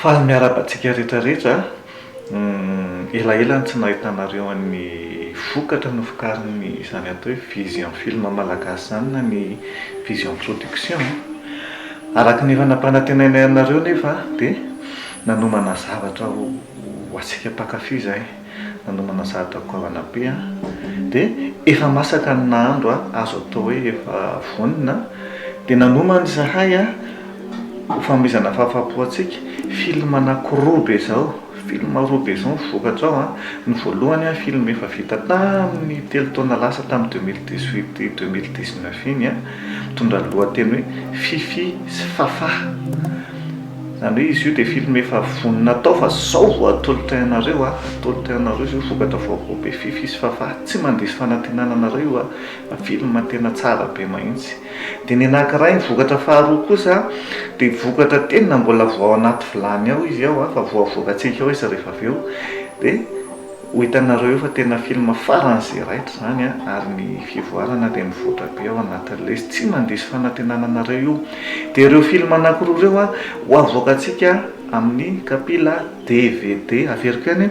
Faly miarahaba antsika rehetra rehetra a! Elaela no tsy nahitanareo an'ny vokatra novokarin'ny izany atao hoe Vision Film Malagasy izany na ny Vision Production a! Araka ny efa nampanantenainay anareo nefa dia nanomana zavatra ho antsika mpankafy izahay. nanomana zahatra goavana be an! dia efa masaka ny nahandro an! azo atao hoe efa vonona an! dia nanomana izahay an! ho fanomezana fahafahampo antsika film anaky roa be izao, film roa be izao ny vokatra ao an! ny voalohany an! film efa vita tamin'ny telo taona lasa tamin'ny deux mille dix huit et deux mille dix neuf iny an! mitondra ny lohateny hoe Fifi sy Fafah. Izany hoe izy io dia film efa vonona atao fa izao vao atolotra anareo a, atolotra anareo izy io vokatra vaovao be fiffi sy fafà, tsy mandiso fanantenana anareo io a, film tena tsara be mahintsy. Dia ny anakiray ny vokatra faharoa kosa dia vokatra tena mbola vao ao anaty vilany ao izy ao a, fa vao avoakantsika ao izy rehefa avy eo dia Ho hitanareo eo fa tena film farany ze raitra izany a! ary ny fivoarana dia mivoatra be ao anatin'ny lesy, tsy mandiso fanantenana anareo io! dia ireo film anankiroa ireo a! ho avoakantsika amin'ny kapila dvd, averiko ihany e!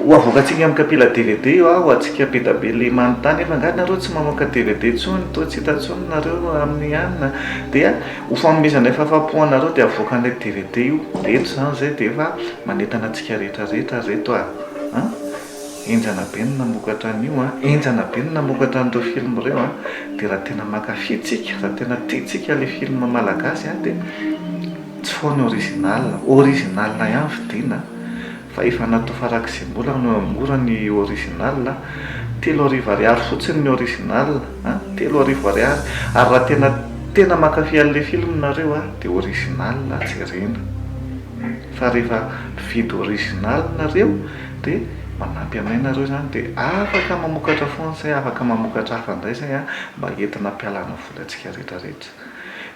ho avoakantsika amin'ny kapila dvd io a! ho antsika be da be le manontany efa angaha nareo tsy mamoaka dvd intsony? toa tsy hita intsony nareo amin'ny an! dia ho fanomezanay fahafapo anareo dia avoakanay dvd io! reto izany izay dia efa manentana antsika rehetra rehetra reto a! an! Henjana be ny namokatra an'io an! Henjana be ny namokatra an'ireo film ireo an! Dia raha tena mankafy tsika, raha tena tia tsika ilay film malagasy an! Dia tsy foany original, original ihany vidiana fa efa natao farak'izay mbola no mora ny original an! Telo arivo ariary fotsiny ny original an! Telo arivo ariary! Ary raha tena, tena mankafy an'ilay film nareo an! Dia original jerena. Fa rehefa mividy original nareo de manampy anay nareo izany de afaka mamokatra foana zay afaka mamokatra hafa indray zay a mba entina ampialana vola antsika rehetra rehetra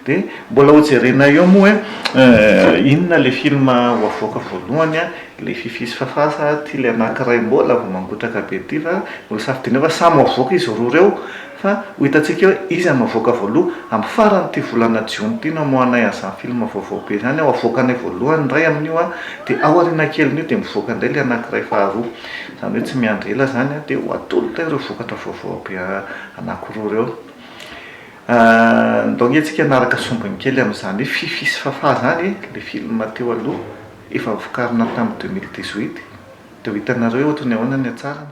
de mbola ho jerenay eo moa hoe inona ilay film ho avoaka voalohany a ilay fiffi sy fafah sa ty ilay anakiray mbola vao mangotraka be ty fa mbola safidiana eo fa samy ho avoaka izy roa reo Fa ho hitantsika eo iza no havoaka voaloha. Amin'ny faran'ity volana jiona ity no hamoahanay an'izany film vaovao be izany ao. Havoakanay voalohany indray amin'io aho, dia ao aoriana kelin'io dia mivoaka indray ilay anankiray faharoa. Izany hoe tsy miandry ela izany aho dia ho atolotra ireo vokatra vaovao be anankiroa ireo. Ndao ange isika hanaraka sombiny kely amin'izany hoe Fiffi sy Fafah izany e! ilay film teo aloha, efa vokarina tamin'ny deux mille dix-huit. Dia ho hitanareo eo ohatry ny ahoana ny hatsarany.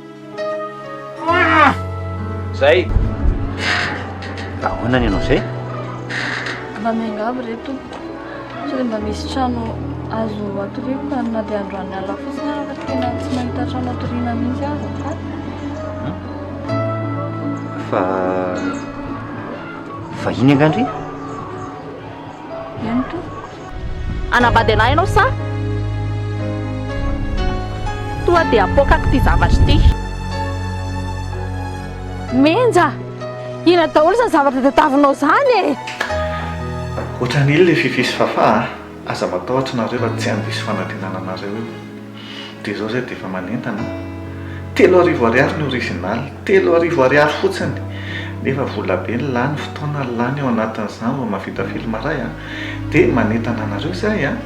Zay. Ahoana ny anao zay? Mba miangavy re tompoko. Sao dia mba misy trano azo atoriako fa na dia androany alina fotsiny aza fa tena tsy mahita trano atoriana mihitsy aho zao. Hmm? Fa vahiny angandry? Eny tompoko. Hanambady anah ianao sa toa te hapoakako ity zavatra ity? Menja! Inona daholo izany zavatra tadiavinao izany e! Ohatran'ily Fiffi sy Fafah a! Aza matahotra nareo raha tsy handiso fanantenana anareo io. Dia izao izay dia efa manentana an! Telo arivo ariary ny original, telo arivo ariary fotsiny! Nefa volabe ny lany, fotoana ny lany eo anatin'izany vao mahavita film iray an! Dia manentana anareo izay an!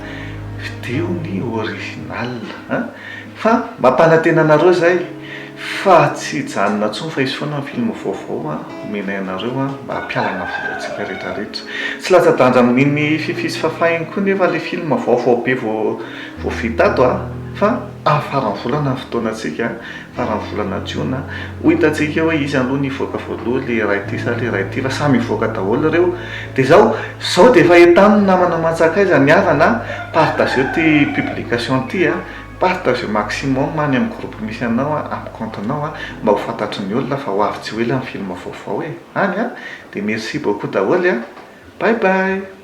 Vidio ny original an! Fa mampanantena anareo izay fa tsy hijanona intsony fa hisy foana ny film vaovao an! Omenay anareo an! Mba hampialana vola antsika rehetra rehetra! Tsy latsa-danja amin'iny fify sy fafay iny koa nefa ilay film vaovao be vao Vao vita ato a! Fa ah faran'ny volana ny fotoanantsika a! Faran'ny volana jiona a! Ho hitantsika eo hoe iza aloha ny hivoaka voaloha, ilay iray ity sa ilay iray ity, fa samy hivoaka daholo ireo. Dia izao, izao dia efa entano ny namana aman-tsakaiza ny havana a! Partageo ity publication ity a! Partageo maximum any amin'ny groupe misy anao a, amin'ny compte-nao a! Mba ho fantatry ny olona fa ho avy tsy ho ela ny film vaovao e! Any a! Dia merci beaucoup daholo a! Bye bye!